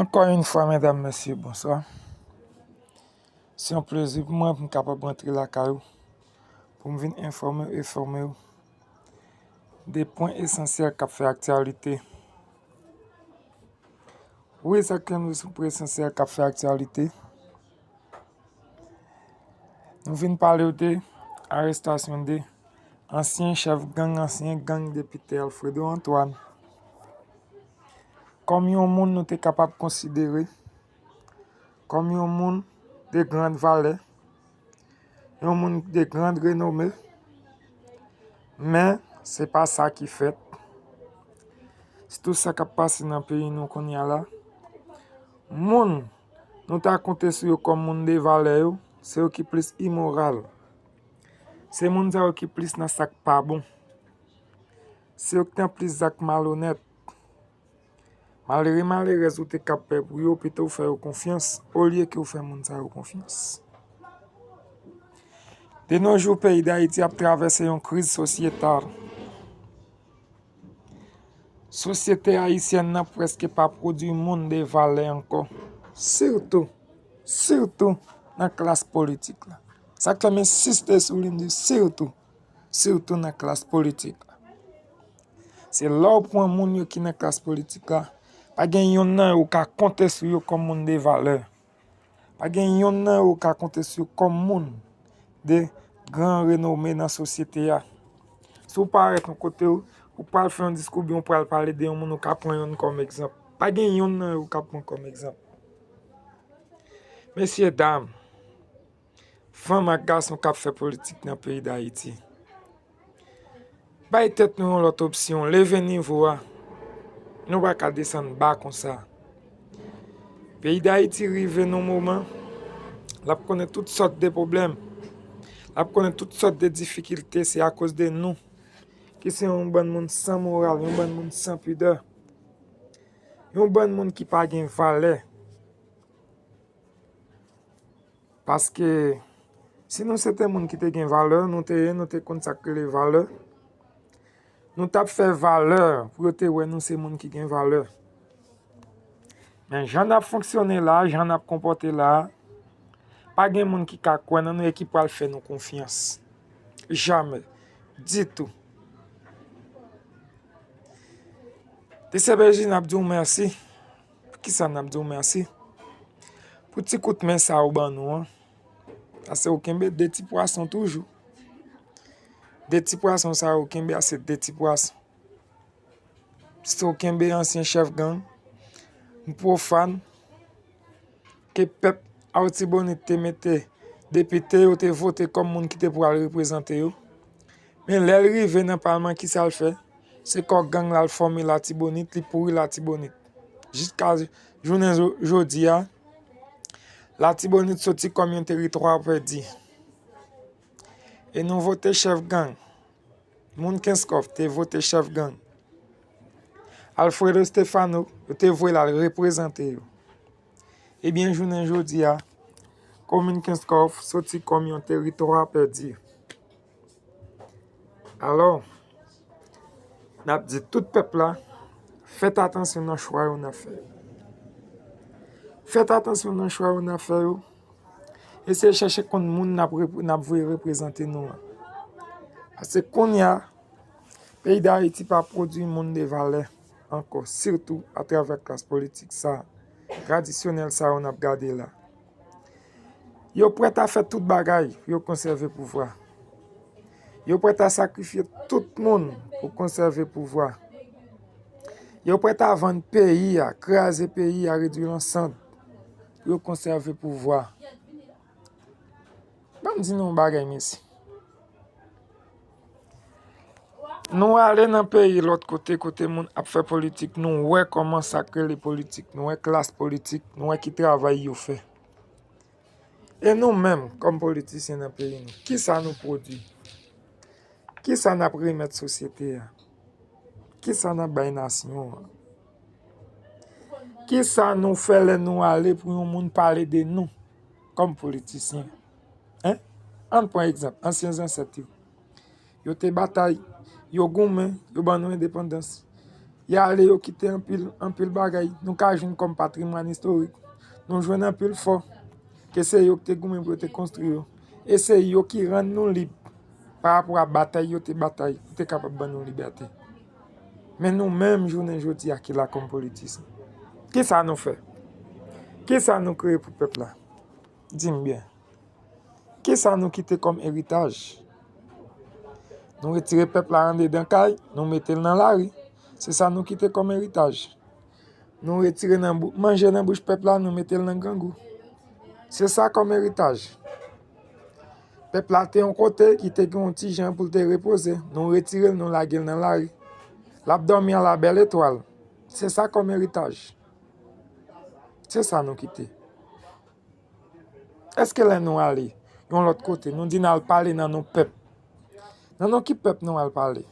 Ankò yon fwa medam mesye bonswa, se yon plezi pou mwen pou m kapab antre lakay ou pou m vin enfòme ou enfòme ou de pwen esansyèl k ap fè aktyalite Wi sa kèm di sou près sansè a kap fè aktyalite. Nou vin pale w de arestasyon de ansyen chèf gang, ansyen gang depite Alfredo Antoine. Kòm yon moun nou te kapab konsidere, kòm yon moun de grand valè. yon moun de grand renome, men se pa sa ki fèt. Sitou sa kap pase nan peyi nou kounye a la, moun nou ta konte sou yo kòm moun de valè yo, se yo ki plis imoral, se moun sa yo ki plis nan sa k pa bon, se yo ki nan plis zak malonèt. Malere malerèz ou te kab pè pou yo pito ou fè yo konfyans olye ke ou fè moun sa yo konfyans. De no jou peyi Dayiti ap travèse yon kriz sosyetal. Sosyete Ayisyen nan preske pa pwodwi moun de valè ankò. Sitou, sitou nan klas politik la. Sa k fè m ensiste sou li m di sitou. Sitou nan klas politik la. Se la ou pran moun yo ki nan klas politik la. Pa gen yon nan yo ou ka konte sou yo kòm moun de valè. Pa gen yon nan yo ou ka konte sou yo kòm moun de gran renome nan sosyete a. Si ou parèt yon kote ou, ou pral fè yon diskou oubyen ou pral pale de yon moun ou ka pran yon kòm egzanp. Pa gen yon nan yo ou ka pran kòm egzanp. Mesye dam. Fanm ak gason kap fè politik nan peyi Dayiti. Bay tèt nou yon lòt opsyon. Leve nivo a. Nou pa ka desann ba konsa. Peyi Dayiti rive nan moman lap konnen tout sòt de pwoblèm. Lap konnen tout sòt de difikilte. Se a koz de nou. Ki se yon bann moun san moral. Yon bann moun san pidè. Yon bann moun ki pa gen valè. Paske, si nou se te moun ki te gen valè, nou te ye, nou te konn sa ki rele valè, nou t ap fè valè pou yo te wè nou se moun ki gen valè. Men, jan n ap fonksyone la, jan n ap konpòte la, pa gen moun ki ka kwè nan nou e ki pral fè nou konfyans. Jamè. Ditou. Ti Sebejin ap di w mèsi. Kisa n ap di w mèsi pou ti kout men sa ou ban nou an? Ase ou kenbe 2 ti pwason toujou. 2 ti pwason sa ou kenbe a se 2 ti pwason. Se ou kenbe ansyen chèf gang, m pwofàn, ke pèp Artibonite te mete depite yo te vote kòm moun ki te pou al reprezante yo. Men lè l rive nan palman kisa l fè? Se kò gang la l fòme l Artibonite, li pouri l Artibonite. Jiska jounen jodi a, Latibonit soti kòm yon teritwa pèdi. E nou vote chèf gang, moun Kenskòf te vote chèf gang, Alfredo Stefano, yo te voye l al reprezante yo. Ebyen jounen jodi a, komin Kenskòf soti kòm yon teritwa pèdi. Alò, n ap di tout pèp la, fèt atansyon nan chwa yo n ap fè yo. Fèt atansyon nan chwa yo n ap fè yo, eseye chèche konn moun n ap voye reprezante nou an. Pase kounye a, peyi Dayiti pa pwodui moun de valè ankò, sitou atravè klas politik sa a, tradisyonèl sa yo n ap gade la. Yo prè ta fè tout bagay pou yo konsève pouvwa. Yo prè ta sakrifye tout moun pou konsève pouvwa. Yo prè ta vann peyi a, kraze peyi a, redwi l an sann pou yo konsève pouvwa. Banm di nou yon bagay mesye. Nou ale nan peyi lòt kote, kote moun ap fè politik, nou wè kòman sa k rele politik, nou wè klas politik, nou wè ki travay yo fè. E nou menm kòm politisyen nan peyi nou, ki sa nou pwodui? Ki sa n ap remèt sosyete a? Ki sa n ap bay nasyon an? Kisa nou fè lè nou ale pou yon moun pale de nou kòm politisyen? Ann pran egzanp, ansyen zansèt yo. Yo te batay, yo goumen, yo ban nou endepandans. Yo ale, yo kite anpil bagay nou ka jwenn kòm patrimwàn istorik. Nou jwenn anpil fò ke se yo ki te goumen pou yo te konstri yo. E se yo ki rann nou lib pa rapò a batay yo te batay pou te kapab ban nou libète. Men nou menm jounen jodi a ki la kòm politisyen, ki sa nou fè? Ki sa nou kreye pou pèp la? Di m byen. Ki sa nou kite kòm eritaj? Nou retire pèp la andedan kay, nou mete l nan lari. Se sa nou kite kòm eritaj. Nou retire nan bouch, manje nan bouch pèp la, nou mete l nan grangou. Se sa kòm eritaj. Pèp la te yon kote ki te gen yon ti jan pou l te repoze. Nou retire l, nou lage l nan lari. L ap dòmi a la bèl etwal. Se sa kòm eritaj. Se sa nou kite. Èske lè nou ale yon lòt kote, nou di n al pale nan non pèp? Nan non ki pèp nou al pale?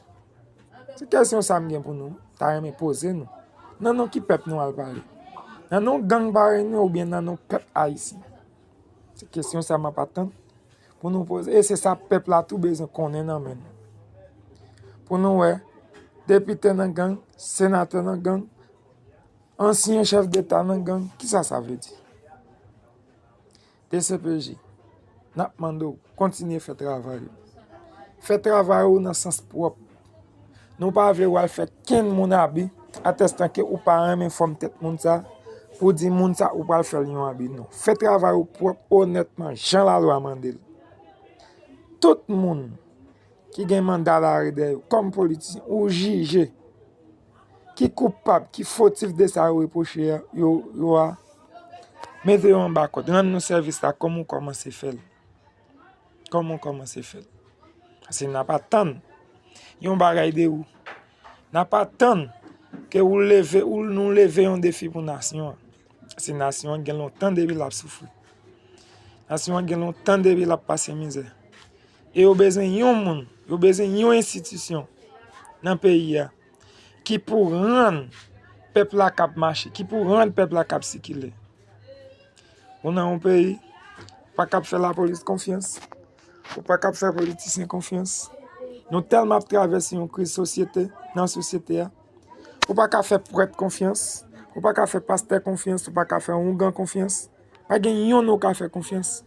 Se kesyon sa m gen pou nou ta renmen poze nou. Nan non ki pèp nou al pale? Nan non gang parèy nou oubyen nan non pèp Ayisyen? Se kesyon sa m ap atann pou nou poze. E se sa pèp la tou bezwen konnen nan men nou. Pou nou wè depite nan gang, senatè nan gang. Ansyen chèf deta nan gang, kisa sa vle di? Dcpj, n ap mande w kontinye fè travay ou. Fè travay ou nan sans pwòp. Nou pa vle w al fè kenn moun abi atestan ke ou pa renmen fòm tèt moun sa pou di moun sa ou pral fè l yon abi. Non. Fè travay ou pwòp, onètman, jan lalwa mande l. Tout moun ki gen manda lare dèyè yo kòm politisyen ou jije. ki koupab, ki fotif de sa yo repwoche yo a, mete yo anba kòd, rann nou sèvis la kòm ou kòmanse fè l. Kòm ou kòmanse fè l. Pase n ap atann yon bagay de ou. N ap atann ke ou leve, ou nou leve yon defi pou nasyon an. Pase nasyon an gen lontan depi l ap soufri. Nasyon an gen lontan depi l ap pase mizè. E yo bezwen yon moun, yo bezwen yon enstitisyon nan peyi a ki pou rann pèp la k ap mache, ki pou rann pèp la k ap sikile. Ou nan yon peyi, ou pa kab fè lapolis konfyans, ou pa kab fè politisyen konfyans. Nou tèlman ap travèse yon kriz sosyete nan sosyete a, ou pa kab fè prèt konfyans, ou pa kab fè pastè konfyans, ou pa kab fè yon ougan konfyans. Pa gen yon ou ka fè konfyans.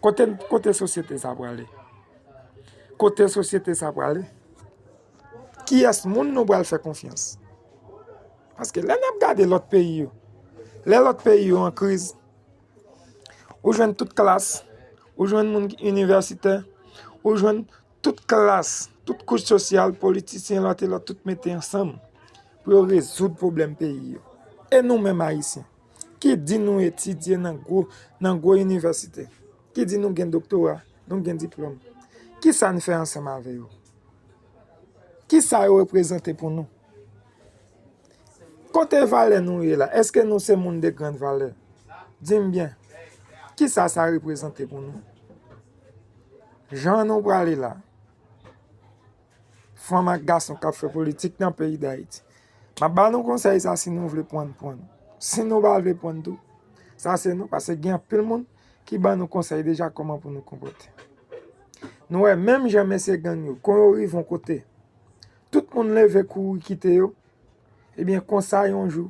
Kote sosyete sa prale? Kote sosyete sa prale? Ki es moun nou pral fe konfyans? Paske lè nap gade lot peyi yo, lè lot peyi yo an kriz, ou jwenn tout klas, ou jwenn moun ki universite, ou jwenn tout klas, tout kouch sosyal, politisyen, lote lot, tout mete ansanm pou yo rezoud problem peyi yo. E nou menm ayisyen? Ki di nou etidye nan gwo, nan gwo inivèsite. Ki di nou gen doktora, nou gen diplòm. Ki sa n fè ansanm avè yo? Ki sa yo reprezante pou nou? Kote valè nou ye la? Eske nou se moun de grand valè? Di m byen. Ki sa sa reprezante pou nou? Jan nou prale la. Fanm ak gason kap fè politik nan peyi dayiti. Map ba nou konsèy sa si nou vle pwan n pwan n. Si nou pa vle pwan n tou, sa se nou pase gen anpil moun ki ba nou konsèy deja kòman pou nou konpòte. Nou wè menm jan mesye gang yo kon yo rive yon kote, tout moun leve kouri kite yo, ebyen konsa yon jou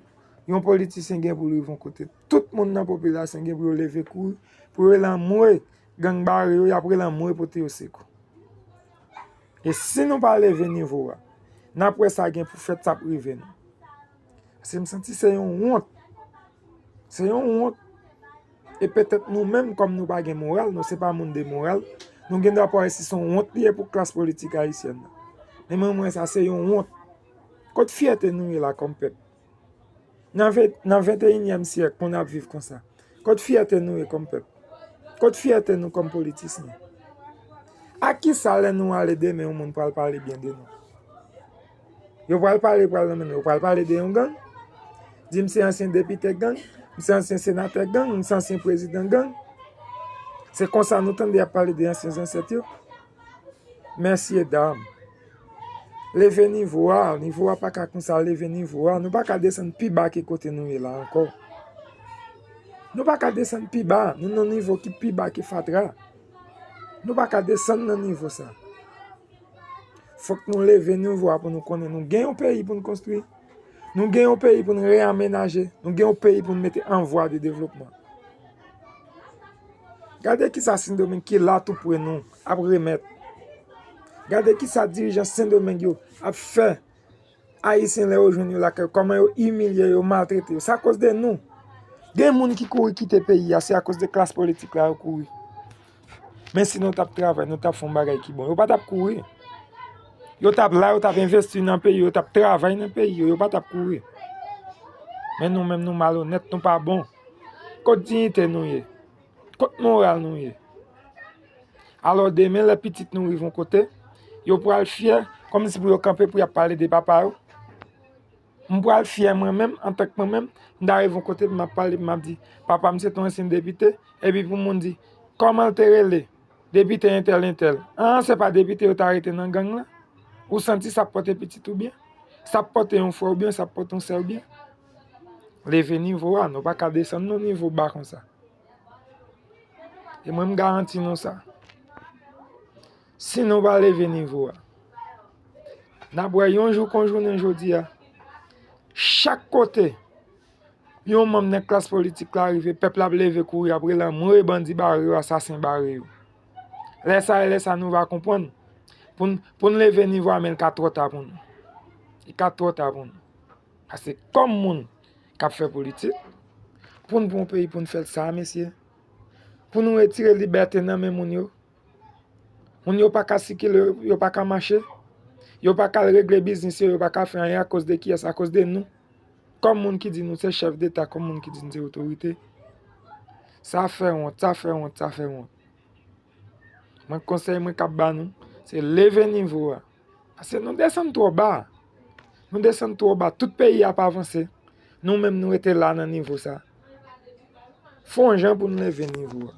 yon politisyen gen pou l rive yon kote tout moun nan popilasyon gen pou yo leve kouri pou yo rele anmwe gang bare yo yap rele anmwe pote yo sekou. E si nou pa leve nivo a, n ap wè sa gen pou fèt, sa ap rive nou. Se m santi se yon wont. Se yon wont. E petèt nou menm kòm nou pa gen moral, nou se pa moun de moral, nou gen dwa pa wè si se yon wont li ye pou klas politik ayisyèn nan. Men mwen wè sa se yon wont. Kot fyète nou ye la kòm pèp? Nan 21 nyèm syèk moun ap viv konsa. Kot fyète nou ye kòm pèp? Kot fyète nou kòm politisyen? Ak kisa lè nou ale demen yon moun pral pale byen de nou? Yo pral pale pral nan men nou, yo pral pale de yon gang? Di m se ansyen depite gang, m se ansyen senatè gang, m se ansyen prezidan gang. Se konsa nou tande y ap pale de ansyen zansèt yo? Mèsyedam! Leve nivo a, nivo a pa ka konsa, leve nivo a. Nou pa ka desann pi ba ke kote nou ye la ankò. Nou pa ka desann pi ba, nou nan nivo ki pi ba ke fatra. Nou pa ka desann nan nivo sa. Fòk nou leve nivo a pou nou konnen nou gen yon peyi pou nou konstwi. Nou gen yon peyi pou nou reamenaje. Nou gen yon peyi pou nou mete an vwa de devlopman. Gade ki sa Sindoming ki la tou pre nou. ap remèt. Gade kisa dirijan sendomeng yo ap fè ayisyen lè yo jwenn yo lakay yo, kòman yo imilye yo, maltrete yo, se akoz de nou. Gen moun ki kouri kite peyi a, se akoz de klas politik la yo kouri. Men si nou tap travay, nou tap fon bagay ki bon, yo pa tap kouri. Yo tap la, yo tap investi nan peyi, yo tap travay nan peyi, yo pa tap kouri. Men nou men nou malonèt, nou pa bon. Kot diyite nou ye? Kot moral nou ye? Alò demen lè pitit nou rive yon kote, yo pral fyè kòmsi pou yo kanpe pou y ap pale de papa yo? M pral fyè mwen menm antank mwen menm m ta rive yon kote pou m ap pale pou m ap di papa m se te yon ansyen depite epi pou moun di kòman l te rele? Depite entèl entèl. An se pa depite yo te arete nan gang lan? Ou santi sa ap pòte pitit ou byen? Sa ap pòte yon frè ou byen? Sa ap pòte yon sè ou byen? Leve nivo a, nou pa ka desann nan nivo ba konsa. E mwen m garanti nou sa. Si nou pa leve nivo a, n ap wè yon jou kon jounen jodi a, chak kote yon manm nan klas politik la rive, pèp la ap leve kouri ap rele anmwe bandi bare yo, asasen bare yo. Lè sa e lè sa nou va konpwann, pou n leve nivo a men l ka twò ta pou nou. Li ka twò ta pou nou. Ase kòm moun kap fè politik poun pran yon peyi poun fèl sa mesye pou nou retire libète nan men moun yo moun yo paka sikile yo paka mache yo paka al regle biznis yo yo paka fè anyen akoz de kiyès akoz de nou kòm moun ki di nou se chèf deta kòm moun ki di nou se otorite sa fè wont sa fè wont sa fè wont. Mwen konsèy mwen kap ba nou se leve nivo a. Pase nou desann twò ba. Nou desann twò ba. Tout peyi ap avanse. Nou menm nou rete la nan nivo sa. Fon jan pou nou leve nivo a.